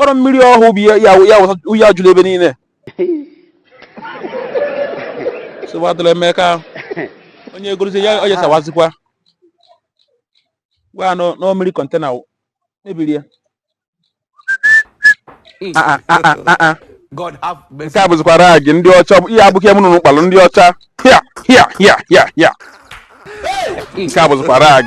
ọrọ mmiri ọhụụ bụ ya juru ebe niile sowatụrụ emeka onye egorozi ya onye sawazikwa gwa unu na mmiri container mebiri ya ah, ah, ah, nke a bụzikwa rag ndị ọcha ihe abụghị m nụrụ kpalụ ndị ọcha ya ya ya ya ya nke a bụzikwa rag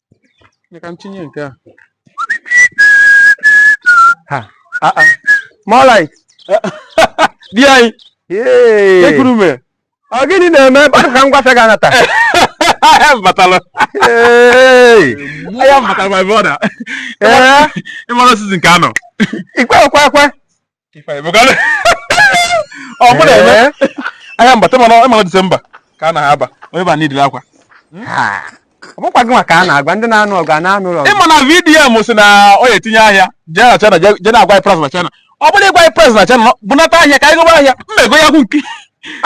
ka m tinye nke a ha a a more light di anyị Hey. ekurume ọ gịnị na-eme ebe ahụ ka m gwafe gị anata ahịa m batara Hey. ahịa m batara my brother Ee, ị mara season nke a nọ ikwe ekwe ekwe ahịa m bata mana ị ma na December ka a na-aba onye ba needịrị akwa ọ bụkwa gị nwa ka a na-agwa ndị na-anụ ọgụ a na-anụ ụlọ ị ma na VDM sị na ọ ya-etinye ahịa jee na China jee na-agwa price na China ọ bụrụ ịgwa price na China bunata ahịa ka anyị goba ahịa mmego ya gwu nke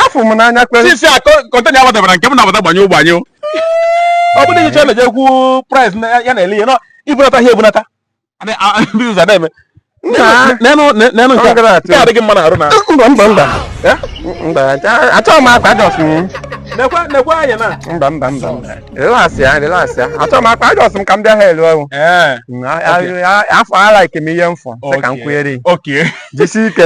afụ m n'anya kwere season a container abatabara nke m na-abata gbanye ụgbanye ọ bụrụ na China jee kwu price ya na-ele ihe ibunata ahịa ebunata na-eme adịghị mma na arụ na mba mba mba mba achọghị m akwa adjust m mba mba mba relaxị ya relaxị ya achọghị m akwa adjust m ka m bịa ha elu ọrụ afụ alike m ihe m fụ sị ka m kwunyere jisi ike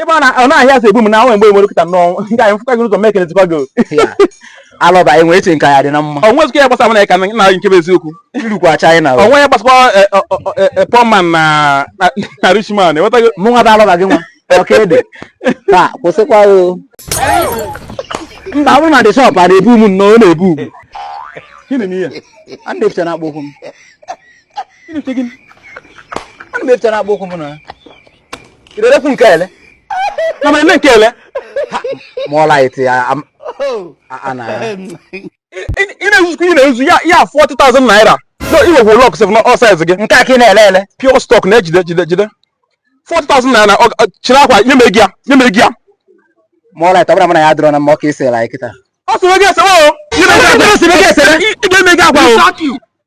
ị ma na ọnụ ahịa so egbu m na nwe mgbe nwere kịta nnọọ nke anyị m fụkwa gị ụzọ mee kelezikwa gị alọba enwe eche nke ya dị na mma ọ nwezikwa ya gbasara m na ka na na nke bụ eziokwu i rukwa China ọ nwe ya gbasakwa poor man na na- na rich man enwetago mụnwa bụ alọba gị nwa ọka ede taa kwụsịkwa o mba ọ bụrụ na the shop a na-ebu m nnọọ ọ na-ebu ugwu gịnị m ihe a na-eficha na akpụ ụkwụ m gịnị nke gịnị a na-eficha na akpụ ụkwụ m na irerekwu nke ele na ma eme nke ele more light ya ana ị na-ezuzikwa ị na-ezu ya ya 40,000 naira i nwekwa luck sef na ọ size gị nke a ka ị na-ele ele pure stock na-ejide jide jide 40,000 naira chịrị akwa nye m ego ya nye m ego ya more light ọ bụla mana ya dịrọ na mma ọ ka ị sịrị anyị kịta ọ sịrị gị esewe o ị ga-emebi akwa o